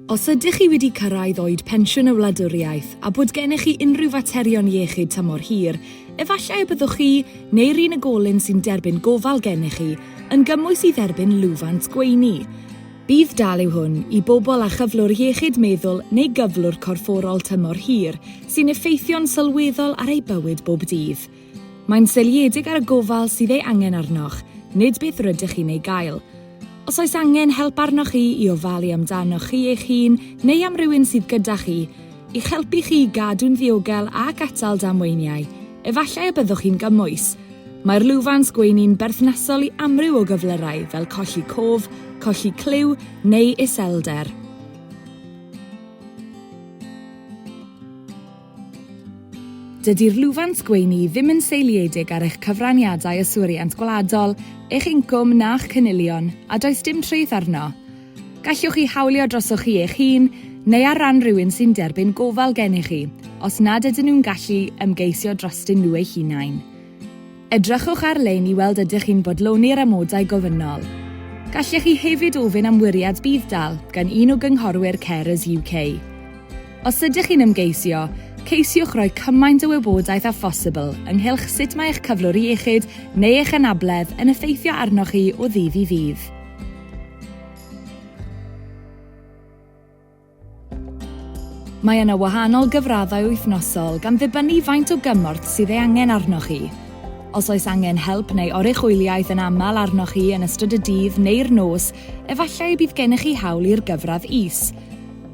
Os ydych chi wedi cyrraedd oed pensiwn y wladwriaeth a bod gennych chi unrhyw faterion iechyd tymor hir, efallai y byddwch chi, neu'r unigolyn sy'n derbyn gofal gennych chi, yn gymwys i dderbyn lwfans gweini. Bydd dal yw hwn i bobl â chyflwr iechyd meddwl neu gyflwr corfforol tymor hir sy'n effeithio'n sylweddol ar eu bywyd bob dydd. Mae'n seiliedig ar y gofal sydd ei angen arnoch, nid beth rydych chi'n ei gael. Os oes angen help arnoch chi i ofalu amdanoch chi eich hun neu am rywun sydd gyda chi, i'ch helpu chi i gadw'n ddiogel ac atal damweiniau, efallai y byddwch chi'n gymwys. Mae'r lwfans gweini'n berthnasol i amryw o gyflyrau fel colli cof, colli clyw neu iselder. Dydy'r lwfans gweini ddim yn seiliedig ar eich cyfraniadau yswiriant gwladol, eich incwm na'ch cynilion, a does dim treth arno. Gallwch ei hawlio drosoch chi eich hun neu ar ran rhywun sy'n derbyn gofal gennych chi, os nad ydyn nhw'n gallu ymgeisio drostyn nhw eu hunain. Edrychwch ar-lein i weld ydych chi'n bodloni'r amodau gofynnol. Gallech chi hefyd ofyn am wiriad budd-dal gan un o gynghorwyr Carers UK. Os ydych chi'n ymgeisio, ceisiwch roi cymaint o wybodaeth â phosibl ynghylch sut mae eich cyflwr iechyd neu eich anabledd yn effeithio arnoch chi o ddydd i ddydd. Mae yna wahanol gyfraddau wythnosol gan ddibynnu faint o gymorth sydd ei angen arnoch chi. Os oes angen help neu oruchwyliaeth yn aml arnoch chi yn ystod y dydd neu'r nos, efallai y bydd gennych chi hawl i'r gyfradd is.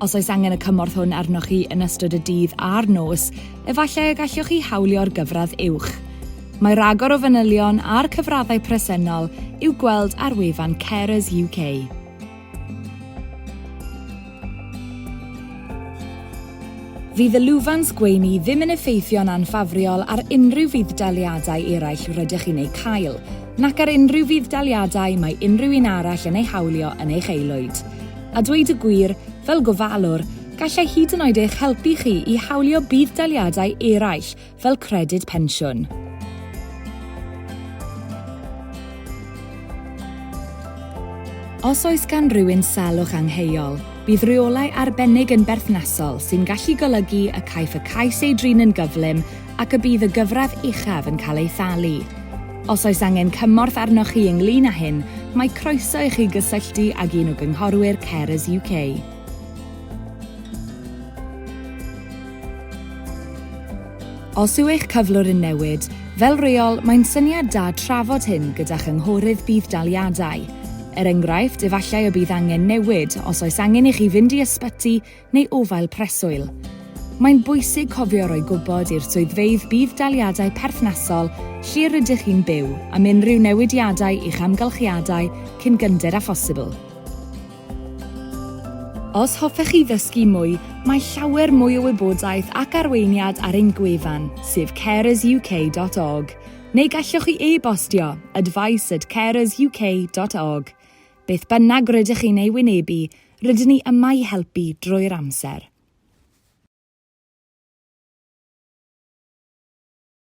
Os oes angen y cymorth hwn arnoch chi yn ystod y dydd a'r nos, efallai y gallwch chi hawlio'r gyfradd uwch. Mae rhagor o fanylion a'r cyfraddau presennol i'w gweld ar wefan Carers UK. Fydd y lwfans gweini ddim yn effeithio'n anffafriol ar unrhyw fudd-daliadau eraill rydych chi'n eu cael, nac ar unrhyw fudd-daliadau mae unrhyw un arall yn eu hawlio yn eich aelwyd. A dweud y gwir, fel gofalwr, gallai hyd yn oed eich helpu chi i hawlio budd-daliadau eraill fel credyd pensiwn. Os oes gan rywun salwch angheuol, bydd rheolau arbennig yn berthnasol sy'n gallu golygu y caiff y cais ei drin yn gyflym ac y bydd y gyfradd uchaf yn cael ei thalu. Os oes angen cymorth arnoch chi ynglŷn â hyn, mae croeso i chi gysylltu ag un o gynghorwyr Carers UK. Os yw eich cyflwr yn newid, fel reol, mae'n syniad da trafod hyn gyda chynghorydd budd-daliadau. Er enghraifft, efallai y bydd angen newid os oes angen i chi fynd i ysbyty neu ofael preswyl. Mae'n bwysig cofio roi gwybod i'r swyddfeydd budd-daliadau perthnasol lle rydych chi'n byw am unrhyw newidiadau i'ch amgylchiadau cyn gynted â phosibl. Os hoffech chi ddysgu mwy, mae llawer mwy o wybodaeth ac arweiniad ar ein gwefan, sef carersuk.org, neu gallwch chi e-bostio, advice at carersuk.org. Beth bynnag rydych chi'n ei wynebu, Rydyn ni yma i helpu drwy'r amser.